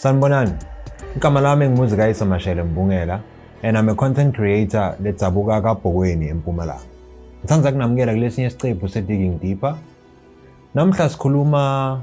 Sanibonani. Igama lami ngimuzi kayise Mashele Mbungela and I'm a content creator ledzabuka kaBhokweni eMpumalanga. Ngithanda kunamukela kulesinye isiqephu se-Digging Deeper. Namhla sikhuluma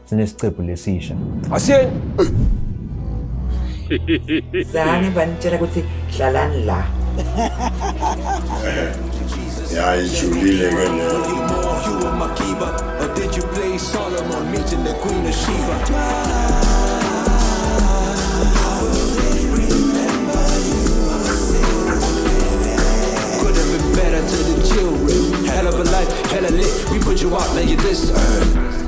Sinesiqephu lesisha. Asiyeni. Zani banitshela ukuthi hlalani la. Yayijulile ke Hell of a life, hella lit, we put you out, now you this earth.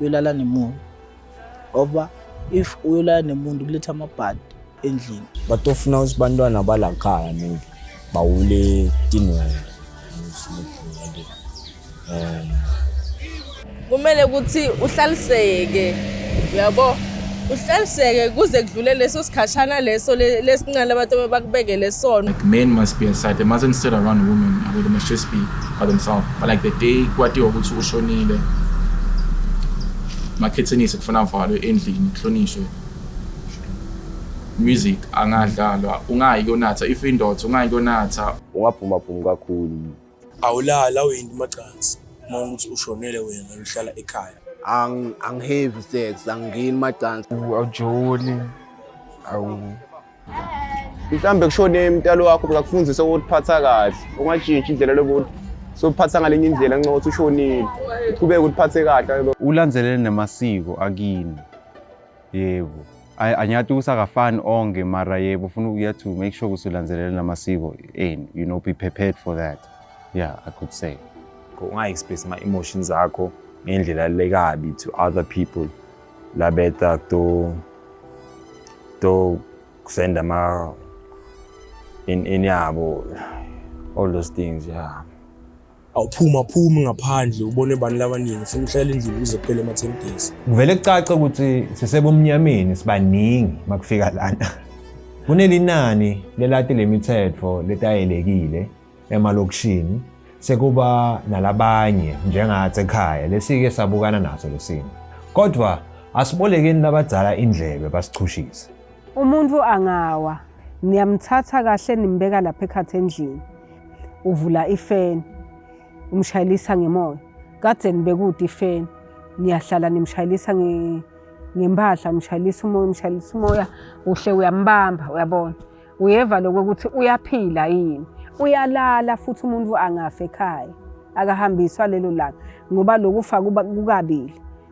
uyolala nemuntu ngoba if uyolala nemuntu kuletha amabhadi endlini but ofuna ukuthi bantwana balakhaya maybe bawule tinwele um kumele ukuthi uhlaliseke uyabo uhlaliseke kuze kudlule leso sikhashana leso lesinqala abantu abakubekele sona like men must be aside they mustn't sit around women abo they must just be by themselves but like the day kwatiwa ukuthi ushonile makhethenise kufuna avalwe endlini kuhlonishwe music angadlalwa ungayi kuyonatha if indoda ungayi kuyonatha ungaphuma phumi kakhulu awulali awuyinto macansi uma ukuthi ushonele wena uhlala ekhaya Ang- angihevi sex angingeni macansi awujoli awu mhlawumbe kushone mtalo wakho bekakufundisa ukutiphatha kahle ungajintshi indlela lokuthi sophatha ngalenye indlela nxa ukuthi ushonile uqhubeke utiphathe kahle ulandelele namasiko akini yebo Ay- anyathi usakafani onke mara yebo ufuna ukuya to make sure ukuthi ulandelela namasiko enu you know be prepared for that yeah i could say unga-express ama-emotions akho ngendlela lekabi to other people labeta to to kusenda ama in, in yabo all those things yeah awuphuma phumi ngaphandle ubone abantu labaningi ufuna uhlale endlini ukuze kuphele ama-ten days kuvele kucace ukuthi sisebumnyameni sibaningi uma kufika lana kunelinani lelati le mithetho letayelekile emalokishini sekuba nalabanye njengathi ekhaya lesike sabukana naso lesimo kodwa asibolekeni labadzala indlebe basichushise Umuntu angawa niyamthatha kahle nimbeka lapha ekhathi endlini uvula ifeni umshayelisa ngemoya kade nibekude ifeni niyahlala nimshayelisa ngempahla umshayelisa umoya umshayelisa umoya uhle uyambamba uyabona uyeva lokho ukuthi uyaphila yini uyalala futhi umuntu angafe ekhaya akahambiswa lelo langa ngoba lokufa kukabili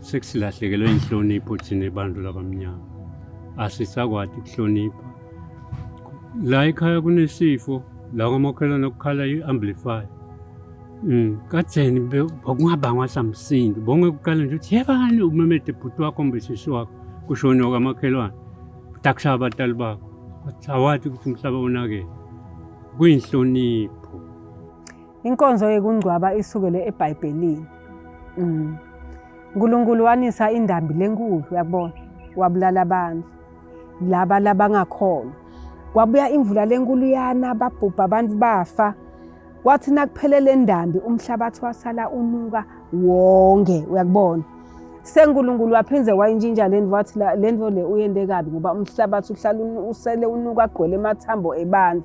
Sesilahlekelwe inhlonipho thina abantu labamnyama. Asisakwati kuhlonipha. La ekhaya kunesifo la kwamakhelwane kukhala i-amplify. Mm, katheni bekungabangwa samsindo. Bonke kuqala nje ukuthi yebani umemede bhuti wakho kumbe sisi wakho kushone okamakhelwane. Dakushaya abatali bakho. Kodwa awathi ukuthi umhlaba unakele. Kuyinhlonipho. Inkonzo yekungcwaba isukele eBhayibhelini. Mm. uNkulunkulu wanisa indambi lenkulu uyakubona wabulala abantu laba labangakholwa kwabuya imvula lenkulu yana babhubha abantu bafa kwathi nakuphele le ndambi umhlabathi wasala unuka wonke uyakubona senkulunkulu waphinde wayintshintsha le nto wathi le nto le uyende kabi ngoba umhlabathi uhlala usele unuka agqwele emathambo ebantu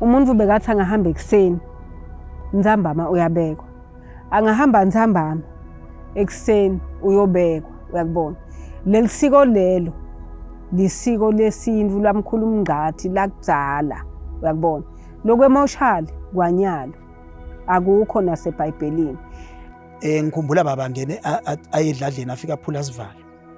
umuntu bekathi angahamba ekuseni nzambama uyabekwa angahamba nzambama ekuseni uyobekwa uyakubona leli siko lelo lisiko lesintu lamkhulu umngqathi lakudala uyakubona lokwemoshali kwanyalo akukho nasebhayibhelini um ngikhumbula baba ngene ayedladleni afike aphula sivalo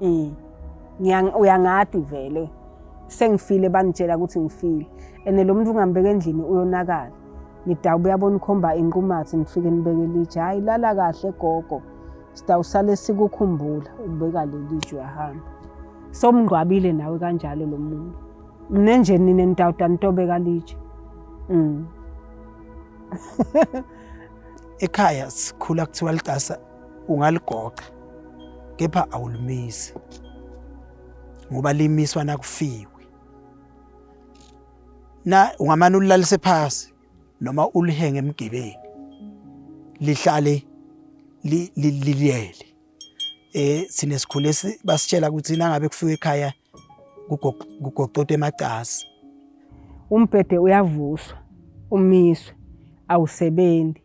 Mm. Ngiyang uyangadi vele. Sengifile bangitshela ukuthi ngifile. Ene lo muntu ungambeka endlini uyonakala. Ngidawube yabona ukhomba inqumathi ngifike nibeke litshe. Hayi lala kahle gogo. Sidawusale sikukhumbula ubeka leli tshe uyahamba. Somngqwabile nawe kanjalo lo muntu. Mine nje nina nitawuda nitobeka litshe. Mm. Ekhaya sikhula kuthiwa licasa ungaligoqa kepha awulimisi ngoba limiswa nakufiwe na ungamane ulilalise phasi noma ulihenge emgibeni lihlale liliyele eh sine sikhule basitshela ukuthi nangabe kufika ekhaya kugoqote emacasi umbhede uyavuswa umiswe awusebenzi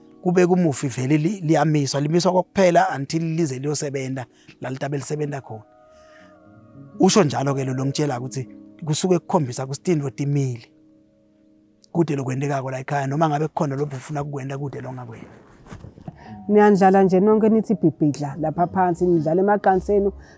kube kumufi vele liyamiswa limiswa kokuphela until lize liyosebenza lalitabe lisebenza khona usho njalo ke lo longitshela ukuthi kusuke kukhombisa kusitini rotimile kude lokwentekako la ekhaya noma ngabe kukhona lobhu ufuna kukwenta kude longakwena niyandlala nje nonke nithi bhibhidla lapha phansi nidlala emaqanseni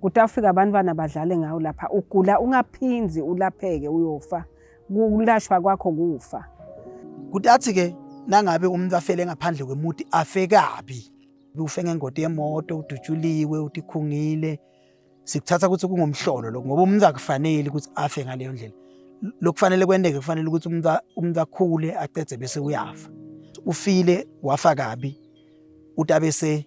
kuthi afika abantwana badlale ngawo lapha ugula ungaphinzi ulapheke uyofa kulashwa kwakho kufa kuthi athi ke nangabe umuntu afele ngaphandle kwemuti afe kabi ufe ngengoti yemoto udutshuliwe utikhungile sikuthatha ukuthi kungumhlolo lokho ngoba umuntu akufanele ukuthi afe ngaleyo ndlela lokufanele kwendeke kufanele ukuthi umuntu umuntu akhule acedze bese uyafa ufile wafa kabi utabese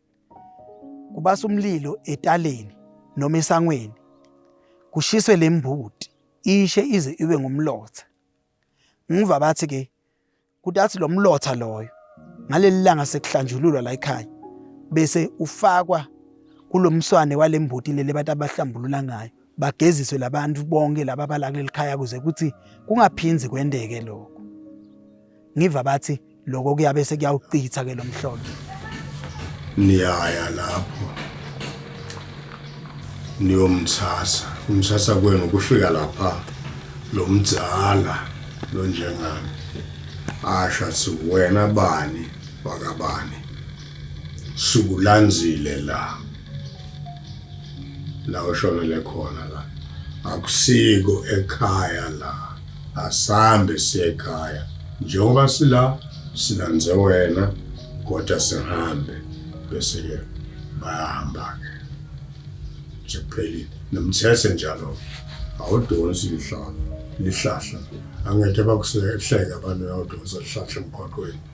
kubasa umlilo etaleni noma esangweni kushiswe le mbuti ishe ize ibe ngumlotha ngiva bathi ke kuthi athi lo mlotha loyo ngaleli langa sekuhlanjululwa la ekhaya bese ufakwa kulomswane walembuti leli bathi abahlambulula ngayo bageziswe labantu bonke laba abala kuleli khaya kuze kuthi kungaphinzi kwendeke lokho ngiva bathi lokho kuyabe sekuyawuchitha ke lomhlolo niyaya lapho niyomthatha umthatha kwenu kufika lapha lo mdzala lo njengami asho athi wena bani wakabani sukulanzile la la oshonele khona la akusiko ekhaya la asambe siye ekhaya njengoba sila silanze wena kodwa sihambe bese ke bayahamba ke nje kuphelile nomthese njalo awudonsi lihlahla lihlahla angeke bakusehleka abantu awudonsa lihlahla emgwaqweni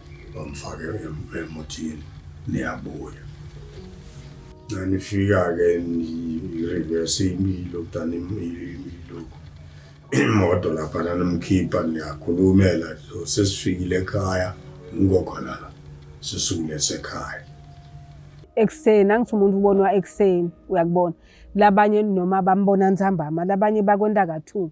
bamfake emotini niyabuya nanifika-ke nirivese imilo kudani imiloko imoto lapha nanimkhipha niyakhulumela sesifikile ekhaya ngikhona la sisukule sekhaya ekuseni angithi umuntu ubonwa ekuseni uyakubona labanye noma bambona nsambama labanye bakwenta ka-two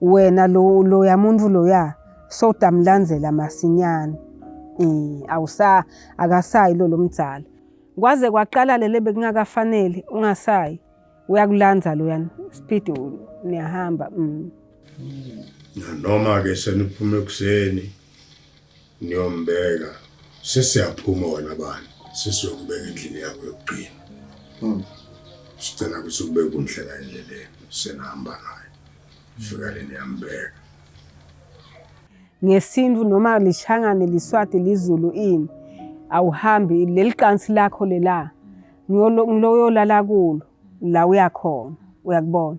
wena lo loya muntu loya sowudamlandzela masinyane um awusa akasayi lo lomdzala kwaze kwaqala lele bekungakafanele ungasayi uyakulandza loyani speed niyahamba um nanoma-ke seniphume ekuseni Niyombeka sesiyaphuma wena bani sesiyokubeka endlini yakho yokugcina. Hmm. Sicela ukuthi kube kunhle la endleleni senihamba naye. Fika le niyambeka. Ngesintu noma lishangane liswati lizulu ini awuhambi leli qansi lakho lela ngiloyolala kulo la uyakhona uyakubona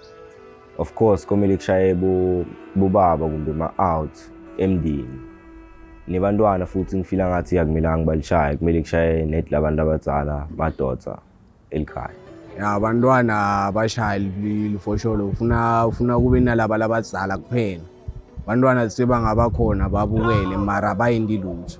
Of course komele kushaye bobaba kumbe ma-out emndeni nebantwana futhi ngifila ngathi akumelanga balishaye kumele kushaye net labantu abadzala madoda elikhaya ya abantwana abashaye lifosholo ufuna ufuna kube nalaba labadzala kuphela abantwana sebangabakhona babukele mara bayinti lutho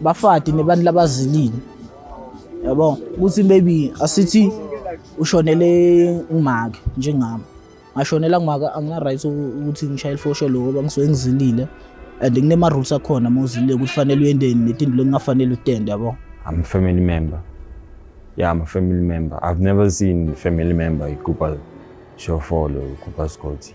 bafati nebantu labazilile yabo ukuthi maybe asithi ushonele umake njengami ngashonela ngumake angina-right ukuthi ngishaye ilifosho loko ngoba ngisuke ngizilile and kunema-rules akhona uma uzilile ukuthi fanele uyenteni netinto lokungafanele utende yabo I'm a family member. Yeah, I'm a family member. I've never seen family member ikupa shofolo, ikupa skoti.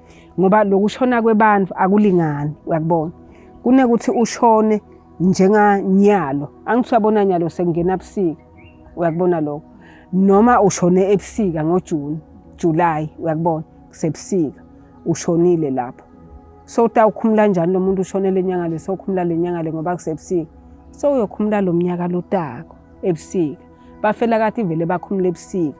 ngoba lokushona kwebantu akulingani uyakubona kunekuthi ushone njenganyalo angithi uyabona nyalo sekungena busika uyakubona lokho noma ushone ebusika ngojuni july uyakubona kusebusika ushonile lapho so utawukhumula njani lo muntu ushone le nyanga le sokhumula le nyanga le ngoba kusebusika so uyokhumula lo mnyaka lotako ebusika bafela kathi vele bakhumula ebusika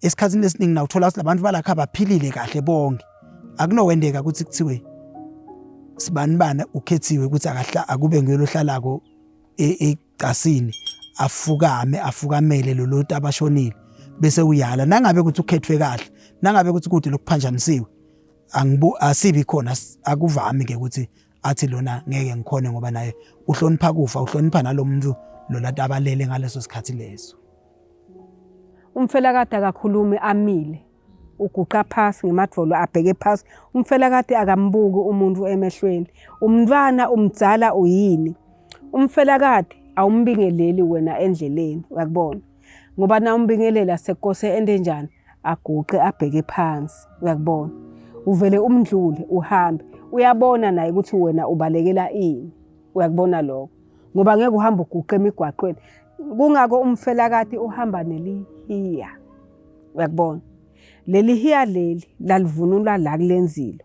esikhathini esiningi nawuthola ukuthi labantu balakha baphilile kahle bonke akunowendeka ukuthi kuthiwe sibani bani ukhethiwe ukuthi akahla akube nguyona ohlalako e-, egcasini afukame afukamele loloti abashonile bese uyala nangabe ukuthi ukhethwe kahle nangabe ukuthi kude lokuphanjanisiwe angibu asibi khona akuvami ke ukuthi athi lona ngeke ngikhone ngoba naye uhlonipha kufa uhlonipha nalomuntu lona tabalele ngaleso sikhathi leso umfelakade akakhulumi amile uguqa phasi ngemadvolo abheke phasi umfelakade akambuki umuntu emehlweni umntwana umdzala uyini umfelakade awumbingeleli wena endleleni uyakubona ngoba na umbingeleli asekose ende njani aguqe abheke phansi uyakubona uvele umndlule uhambe uyabona naye ukuthi wena ubalekela ini uyakubona lokho ngoba ngeke uhamba uguqe emigwaqweni kungako umfelakati uhamba nelihiya uyakubona leli hiya leli lalivunulwa la kulenzilo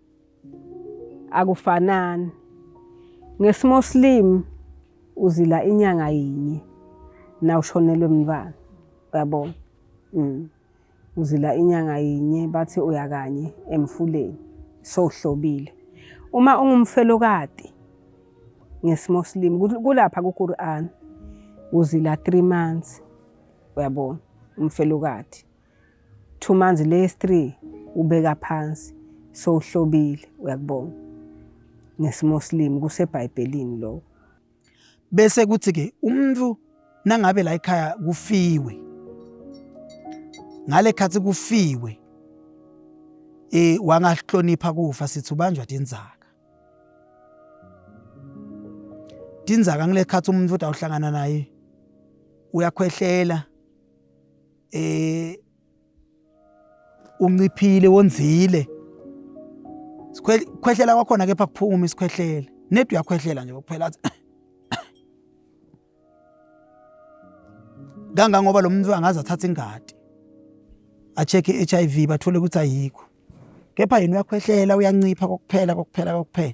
akufanani ngesimoslim uzila inyanga yinye na ushonelwe mntwana uyabona mm. uzila inyanga yinye bathi uya kanye emfuleni sohlobile uma ungumfelokati ngesimoslim kulapha kuQuran uzila 3 months uyabona umfelokati two months le three ubeka phansi so uhlobile uyakubona ngesimoslim kusebhayibhelini lokho bese kuthi ke umuntu nangabe la ekhaya kufiwe ngale khathi kufiwe eh wangahlonipha kufa sithi ubanjwa tinzaka tinzaka ngile khathi umuntu uthi awuhlangana naye uyakhwehlela eh unciphile wonzile sikhwehlela kwakhona kepha kuphuma isikhwehlele nedi uyakhwehlela nje kuphela athi kangangoba lo muntu angaze athathe ingadi acheck iHIV bathole ukuthi ayikho kepha yena uyakhwehlela uyancipha kokuphela kokuphela kokuphela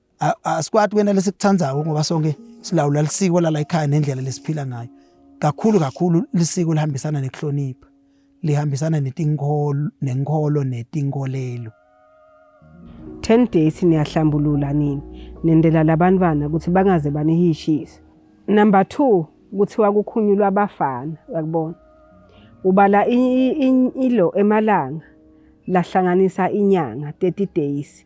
asikwati kwena lesikutsandzako ngoba sonke silawula lisiko lala ekhaya nendlela lesiphila ngayo kakhulu kakhulu lisiko lihambisana nekuhlonipha lihambisana netinkholo nenkholo netinkolelo 10 days niyahlambulula nini nendela labantwana ukuthi bangaze banihishise number 2 kuthiwa kukhunyulwa abafana yakubona ubala ilo emalanga lahlanganisa inyanga 30 days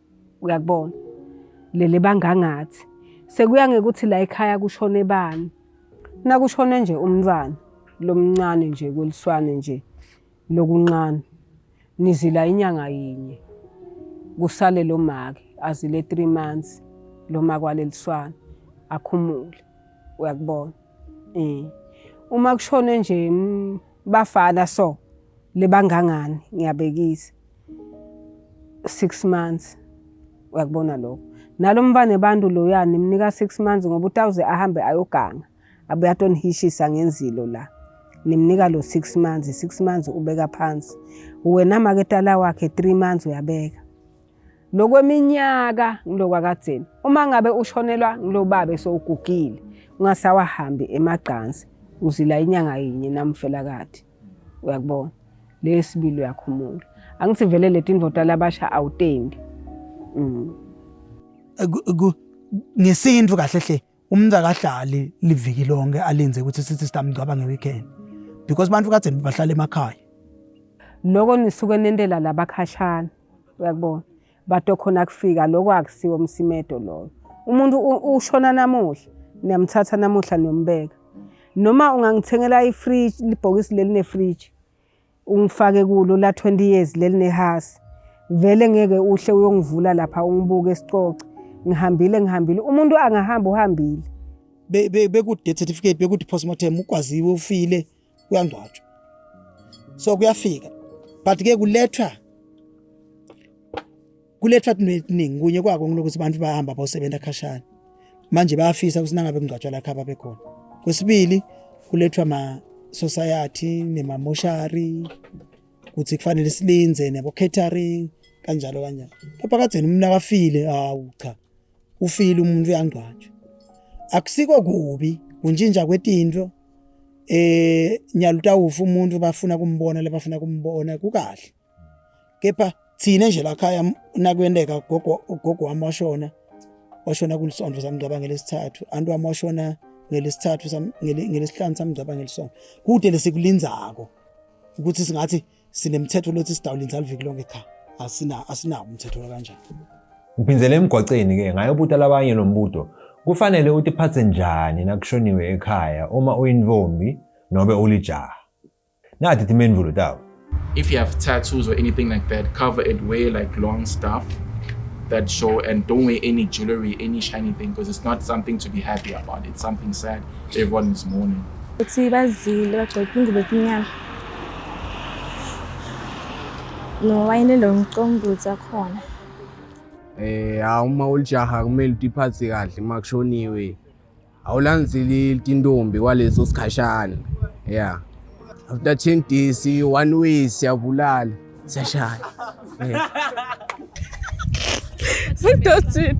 uyakubona lele bangangathi sekuya ngekuthi la ekhaya kushone bani nakushone nje umntwana lomncane nje kweliswane nje lokunqana nizila inyanga yinye kusale lo make azile 3 months lo makwaleliswana akhumule uyakubona eh uma kushone nje mm, bafana so lebangangani ngiyabekisa six months uyakubona lokho nalo mfana abantu loya nimnika six months ngoba utawuze ahambe ayoganga abuye atonihishisa ngenzilo la nimnika lo six months six months ubeka phansi wena maketala wakhe three months uyabeka lokweminyaka ngilokwakadzeni uma ngabe ushonelwa ngilobaba sowugugile ungasawahambi emagcansi uzila inyanga yinye namfelakade uyakubona lesibili uyakhumula angisivele leti indoda labasha awutendi mm. ngesintu kahle hle umuntu akahlali liviki lonke alinze ukuthi sithi sitamgcwaba ngeweekend because abantu kade bahlala emakhaya loko nisuke nentela labakhashana uyakubona Bato khona kufika lokho akusiwo umsimedo loyo. Umuntu ushona namuhla, niyamthatha namuhla niyombeka. Noma ungangithengela i-fridge, libhokisi leli ne-fridge. Ungifake kulo la 20 years leli nehasi. Vele ngeke uhle uyongivula lapha ungibuke sicoce. Ngihambile ngihambile. Umuntu angahamba uhambile. Be, be, bekude certificate bekude postmortem ukwaziwe ufile kuyangcwatshwa so kuyafika but ke kulethwa kulethwa kuningi kunye kwako ngilokuthi abantu bahamba bosebenza khashana manje bayafisa ukuthi nangabe kungcwatshwa lakha babe khona kwesibili kulethwa ma society nema moshari ukuthi kufanele silinze nebo catering kanjalo kanjalo lapha kade umna kafile hawu cha ufile umuntu uyangcwatshwa akusiko kubi kunjinja kwetinto eh nyalutawufa umuntu bafuna kumbona lebafuna kumbona kukahle kepha thina nje la khaya nakwendeka gogo gogo wami washona washona kulisonto samngcwaba ngelesithathu antu wami washona ngelesithathu ngelesihlanu samngcwaba ngelisonto kude lesikulindzako ukuthi singathi sinemthetho lothi sidawulinza aliviki lonke cha asina asinawo umthetho kanjani Ngiphinzele emgwaceni ke ngayobuta labanye lo mbuto kufanele utiphatse njani nakushoniwe ekhaya uma uyintombi nobe ulijaha nati timendvulo tawo if you have tattoos or anything like that cover it wear like long stuff that show and don't wear any jewelry any shiny thing because it's not something to be happy about it's something sad everyone is mourning uthi bazile bagcoke ingubo enyama nowayini lomcombuthi akhona eh hawu uma ulijaha kumele utiphathe kahle uma kushoniwe awulandzeli tintombi kwaleso sikhashana yeah after 10 days one way siyabulala siyashaya yeah. sidothini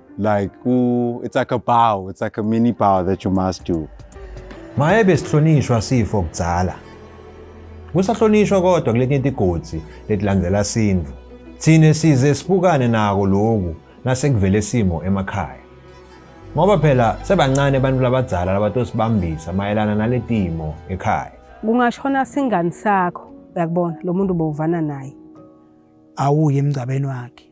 like ooh, it's like a bow it's like a mini bow that you must do maye besihlonishwa sifo kudzala kusahlonishwa kodwa kuletinye tigodzi letilandzela sindvu thine size sibukane nako loku nasekuvele simo emakhaya ngoba phela sebancane abantu labadzala labatosibambisa mayelana naletimo ekhaya kungashona singani sakho uyakubona lo muntu bowuvana naye awuye emngcabeni wakhe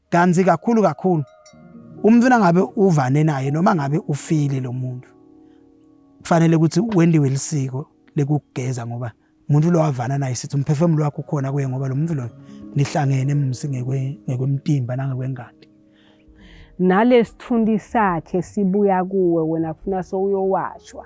Kanti kakhulu kakhulu umuntu nangabe uvane naye noma ngabe ufile lo muntu kufanele ukuthi wendiwe lisiko lekugeza ngoba umuntu lo wavana naye sithi umphefumulo wakho ukhona kuye ngoba lo muntu loyo nihlangene msi ngekwemtimba nangekwengadi nalesithundi sakhe sibuya kuwe wena kufuna sowuyowashwa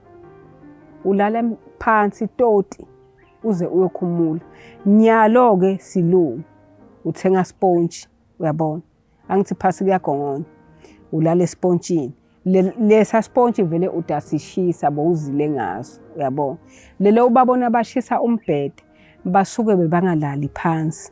ulala phansi toti uze uyokhumula nyalo ke silungu uthenga sponge uyabona angithi phasi kuyagongonya ulala espontshini lesa sponge vele udasishisa bowuzile ngaso uyabona lelo ubabona bashisa umbhede basuke bebangalali phansi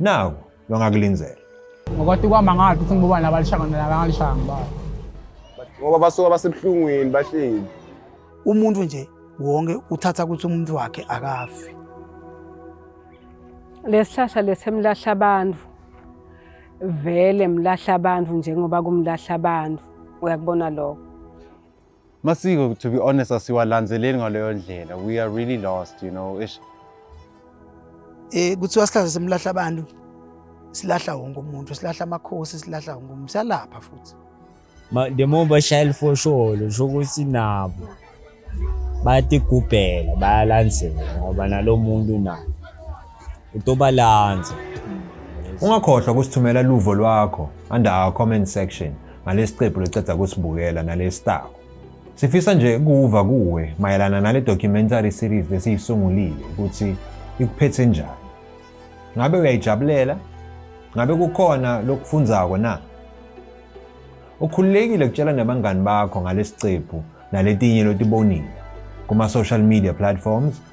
Naku longakulindela. Ngokwati kwama ngathi ukuthi ngibobani labalishanga nabangalishanga ngibani. Ngoba basuka basebuhlungwini bahleli. Umuntu nje wonke uthatha ukuthi umuntu wakhe akafi. Lesihlahla lesemlahla abantu vele mlahla abantu njengoba kumlahla abantu uyakubona lokho masiko to be honest asiwalanzeleli ngaleyo ndlela we are really lost you know ish eh kuthiwa sihlahla semlahla abantu silahla wonke umuntu silahla amakhosi silahla wonke umuntu siyalapha futhi the more bashaya lifosholo sho ukuthi nabo bayatigubhela bayalandzela ngoba nalo muntu naye utobalanza Ungakhohlwa kusithumela luvo lwakho under our comment section ngalesiqephu leceda kusibukela nalesitako. Sifisa nje ukuva kuwe mayelana nale documentary series lesiyisungulile ukuthi ikuphethe njani. Ngabe uyayijabulela? Ngabe kukhona lokufundzako na? Ukhululekile ukutshela nabangani bakho ngalesiqephu naletinye lotibonile kuma social media platforms